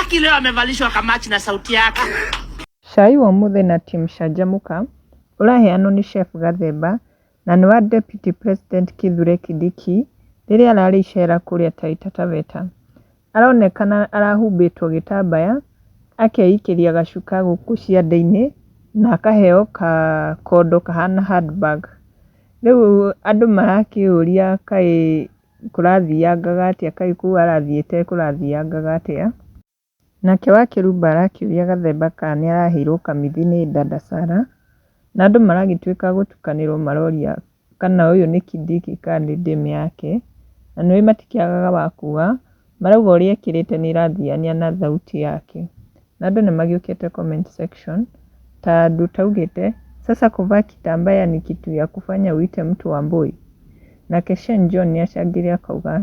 Aki leo amevalishwa kamachi na sauti yake. Cai wa ũmũthĩ na Team Canjamũka ũraheanwo nĩ Chef Gathemba na nĩ wa Deputy President Kithure Kindiki rĩrĩa ararĩ icera kũrĩa Taita Taveta. aronekana arahumbĩtwo gĩtambaya, akeikĩria gacuka gũkũ ciande-inĩ, na akaheo kakondo kahana handbag. Rĩu andũ marakĩũria kaĩ kũrathiangaga atĩa, kaĩ kũu arathiĩte kũrathiangaga atĩa. Nake wa Kerubo arakĩũria Gathemba kana nĩ araheirwo kamithi nĩ Dada Sarah, na andũ maragĩtuĩka gũtukanĩrwo maroria kana ũyũ nĩ kindiki kana nĩ dame yake, na nĩ ũĩ matikĩagaga wa kuuga, marauga ũrĩa ekĩrĩte nĩ ĩrathiania na thauti yake. Na andũ nĩ magĩũkĩte comment section, ta andũ ta augĩte, sasa kuvaa kitambaa ni kitu ya kufanya uite mtu wambũi? Nake Shane John nĩ acangire akauga,